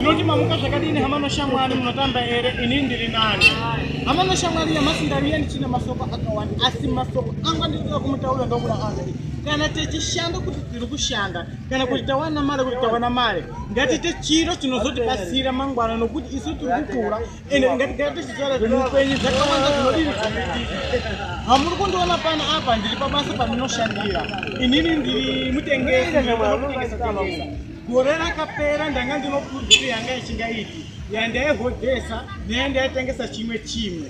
Munoti mamuka zvakadini hama noshamwari munotamba ere ini ndiri nani. Hama noshamwari nyamasi ndaviya ndichina masoko akawanda asi masoko anga ndikuda kumutaura ndokuda anzi kana techishanda kuti tiri kushanda kana kuti tawana mari kuti tawana mari ngatiite chiro chinozotibatsira mangwana nokuti isu tiri kukura ende ngatigare tichitaura zvemupenyu zvakawanda zvinodii hamuri kundiona pano apa ndiri pabasa pandinoshandira inini ndiri mutengesi Gore rakapera ndanga ndinokurudziro yanga ichingaiti yandaihodhesa neyandaitengesa chimwe chimwe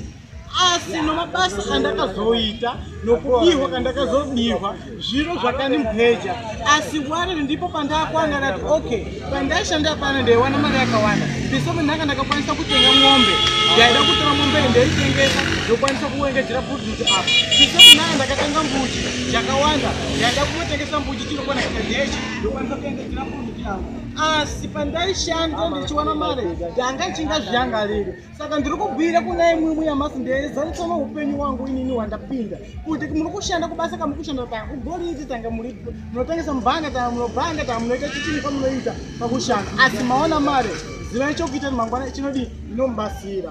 asi nomabasa andakazoita nokubihwa kandakazobihwa zviro zvakandimpeja asi wari ndipo pandakwanga ndati okay pandaishanda pano ndaiwana mari yakawanda pisome ndanga ndakakwanisa kutenga mombe ndaida kutora mombe ndaitengesa ndokwanisa kuengejera pudhuti apa pisome ndanga ndakatenga mbuchi yakawanda ndaida kunotengesa mbuchi chinokwana kitadechi ndokwanisa kuendedzera munhu yavo asi pandaishanda ndichiwana mari ndanga ichinga zviyangariro saka ndiri kubhuira kuna imwimwi yamasi ndezarisa noupenyu wangu inini wandapinda kuti muri kushanda kubasa kamuri kushanda ta ugoriiti tanga munotengesa mubhanga ta munobhanga ta munoita chichini kwamunoita pakushanda asi maona mari zivai chokuita mangwana chinodii inomubatsira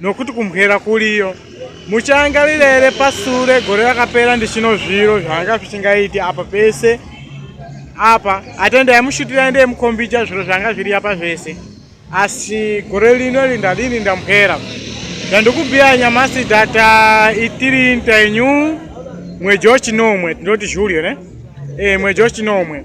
Nokuti kumhera kuriyo. Muchaangarira here pasure gore rakapera ndichino zviro zvanga zvichingaiti apa pese apa atenda yamushutira ende yemukombija zviro zvanga zviri apa zvese asi gore lino lindadini ndamhera zvandikubhiya nyamasi data itiri ntenyu mweji wachinomwe tinoti julio ne e, mweji wachinomwe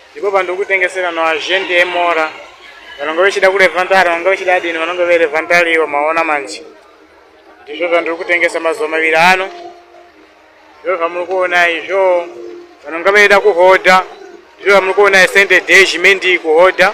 Ndipo pandikutengesera no agent emora vanonga vechida kurevantari vanonga vechida adini vanonga verevantari ivo maona manje ndizvo zvandiri kutengesa mazuva maviri ano ndizvo zvamuri kuona izvo vanonga veida kuhodha ndizvo zvamuri kuona sende day zhimendii kuhodha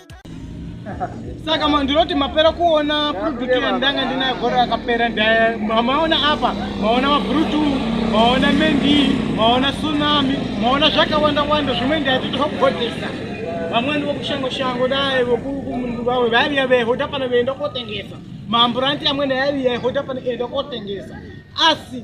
saka ndinoti mapera kuona product yandanga ndinayo gore rakapera maona apa maona mabrutu maona mendi maona tsunami maona zvakawanda wanda zvimwe ndaititokugodesa vamweni vokushango shango dai vokumundu vawe vaiviya vehota pano veienda kotengesa maamburanti amwene aiviya hota pano eienda kotengesa asi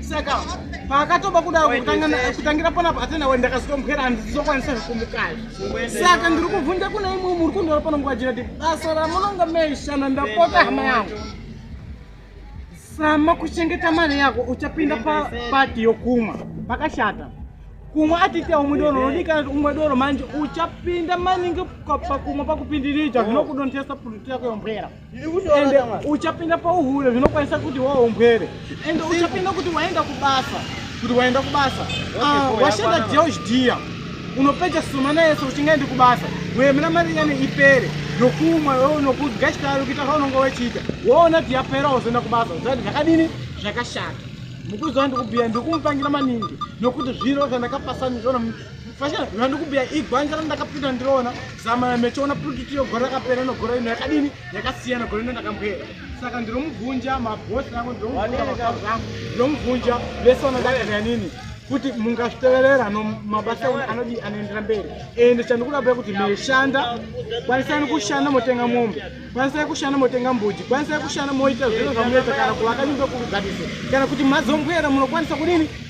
saka paakatoba kudaro kutangira panapo atena we ndakazotomukera handizokwanisa zvekumukaya saka ndiri kuvhunja kuna imwe muri kundora pano nguva jira ti basa ramunonga maishana ndapota hama yangu sama kuchengeta mari yako uchapinda pati yokumwa pakashata kumwa atite umwe doro unodikana kuti umwe doro manje uchapinda maningi pakumwa pakupindirija zvinokudontesa puriti yako yombwera ende uchapinda pauhure zvinokwanisa kuti waombwere ende uchapinda kuti waenda kubasa kuti waenda kubasa ah, washanda deus dia unopedza sumana yese uchingaendi kubasa wemira mari yane ipere nokumwa wewe nokudya chikari kuita kaunonga wechiita woona kuti yapera wozoenda kubasa zati zvakadini zvakashata mukuziva ndikubhiya ndikumupangira maningi nokuti zviro zvandakapasanizvona Fashana zvino ndikumbira igwanja randakapinda ndiriona zama yamechiona purikiti yogore rakapera inogore ino yakadini yakasiyana gore ino ndakambwera saka ndinomubvunja mabhosi rangu ndinomubvunja ndinomubvunja vese vanodakana nini kuti mungazviteverera no mabasa enyu anodii anoendera mberi ende chandikuda kuda kuti meshanda kwanisani kushanda motenga mombe kwanisai kushanda motenga mbuji kwanisai kushanda moita zviro zvamunoita kana kuvaka nyumba kuruganise kana kuti mazombwera munokwanisa kudini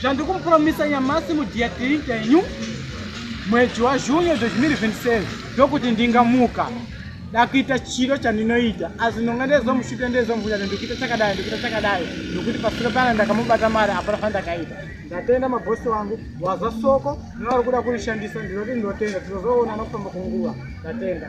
zvandikumupromisa nyamasi mudiatric yenyu mwedzi wazvunyo 2027 ndokuti ndingamuka dakuita chiro chandinoita asi ndonga ndezomushuta ndezomvunya kuti ndikuita chakadai ndikuita chakadai nokuti pasiro pana ndakamubata mari hapana fandakaita ndatenda mabhosi wangu wazwa soko novari kuda kurishandisa ndinoti ndinotenda tinozoona nokufamba kwenguva ndatenda